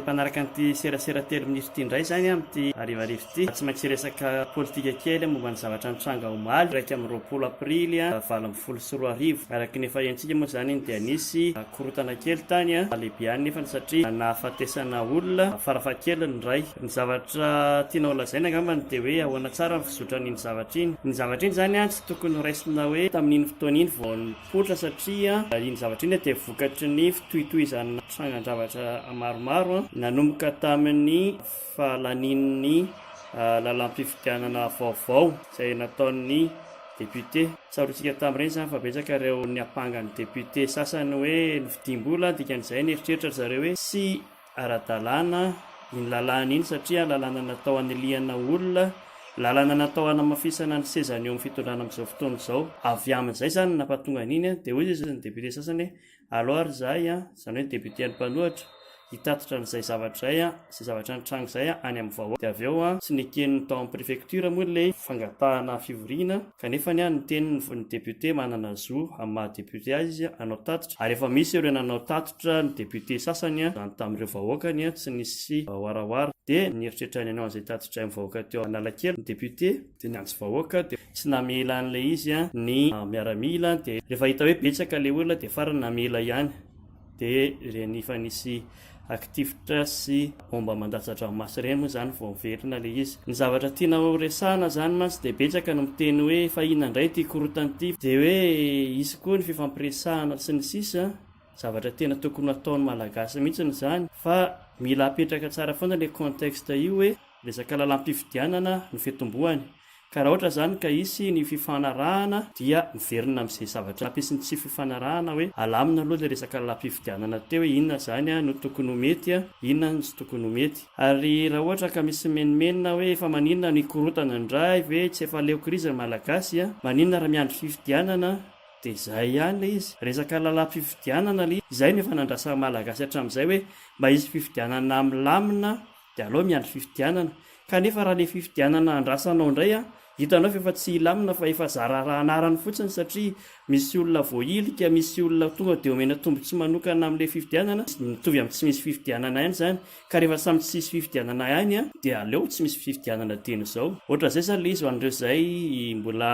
mpanaraka an'ity serasera telo minitra ity indray zany amin'ity arivarivo ity tsy maintsy resaka politika kely momba ny zavatra nitranga omaly raika amin'ny roapolo aprily a valo ambin'ny folo sy roa arivo araka ny efa hentsika moa zany dia nisy korotana kely tany a lehibiany nefa ny satria nahafatesana olona farafahakeliny ray Ny zavatra tiana ho lazaina angambany dia hoe ahoana tsara ny fizotran'iny zavatra iny. Iny zavatra iny izany tsy tokony ho raisina hoe tamin'iny fotoana iny vao nipoitra satria iny zavatra iny dia vokatry ny fitohitohizan'ny trangan-javatra maromaro nanomboka tamin'ny fahalanian'ny lalàm-pifidianana vaovao izay nataon'ny député. Tsaroantsika tamin'ireny izany fa betsaka ireo niampanga ny député sasany hoe novidiam-bola dikan'izay nieritreritra ry zareo hoe tsy ara-dalàna iny lalàna iny satria lalàna natao hanilihana olona, lalàna natao hanamafisana ny sezany eo amin'ny fitondrana amin'izao fotoana izao. Avy amin'izay izany no nampahatonga an'iny an! Dia hoy izy ny député sasany hoe aleo ary izahay an, izany hoe ny député an'ny mpanohitra, hitatitra an'izay zavatra izay an, izay zavatra nitranga izay an, any amin'ny vahoaka. Dia avy eo an, tsy neken'ny tao amin'ny préfecture moa ilay fangatahana fivoriana kanefa ny an, niteny ny ny député manana zo amin'ny maha-député azy izy hanao tatitra ary efa misy ireo nanao tatitra. Nanohitra ny député sasany izany tamin'ireo vahoakany tsy nisy warawara. Dia nieritreritray nanao an'izay tatitray amin'ny vahoaka teo Analakely ny député. Dia niantso vahoaka dia tsy namela an'ilay izy ny miaramila. Dia rehefa hita hoe betsaka ilay olona dia farany namela ihany. Dia ireny efa nisy akitifitra sy bomba mandatsa-dranomaso ireny moa izany vao niverina ilay izy. Ny zavatra tiana horesahana izany mantsy dia betsaka no miteny hoe fa inona indray ity korontana ity. Dia hoe hisy koa ny fifampiresahana sy ny sisa. Zavatra tena tokony hataon'ny Malagasy mihitsy izany fa mila apetraka tsara foana ilay contexte io hoe resaka lalam-pifidianana no fitomboany ka raha ohatra izany ka hisy ny fifanarahana dia miverina amin'izay zavatra nampisy ny tsy fifanarahana hoe alamina aloha ilay resaka lalam-pifidianana teo hoe inona izany no tokony ho mety, inona no tsy tokony ho mety. Ary raha ohatra ka misy mimenomenona hoe efa maninona no hikorotana indray ve tsy efa leo krizy ny Malagasy, maninona raha miandry fifidianana? Dia izay ihany ilay izy. Resaka lalam-pifidianana ilay izy. Izay no efa nandrasan'ny Malagasy hatramin'izay hoe mba hisy fifidianana milamina dia aleo miandry fifidianana. Kanefa raha ilay fifidianana andrasanao indray an, hitanao fa efa tsy hilamina fa efa zara raha anarany fotsiny satria misy olona voahilika, misy olona tonga dia omena tombontsoa manokana amin'ilay fifidianana. Mitovy amin'ny tsy misy fifidianana ihany izany. Ka rehefa samy tsy hisy fifidianana ihany an, dia aleo tsy misy fifidianana dieny izao. Ohatr'izay izany ilay izy ho an'ireo izay mbola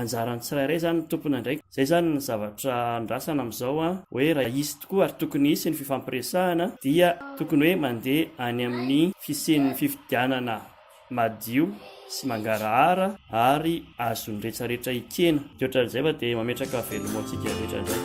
Anjaran'ny tsirairay izany ny tompony andraikitra. Izay izany ny zavatra andrasana amin'izao an, hoe raha hisy tokoa ary tokony hisy ny fifampiresahana dia tokony hoe mandeha any amin'ny fisian'ny fifidianana madio sy mangarahara ary azon'ny rehetra rehetra hikena. Dia ohatran'izay fa dia mametraka veloma ho antsika rehetra indray.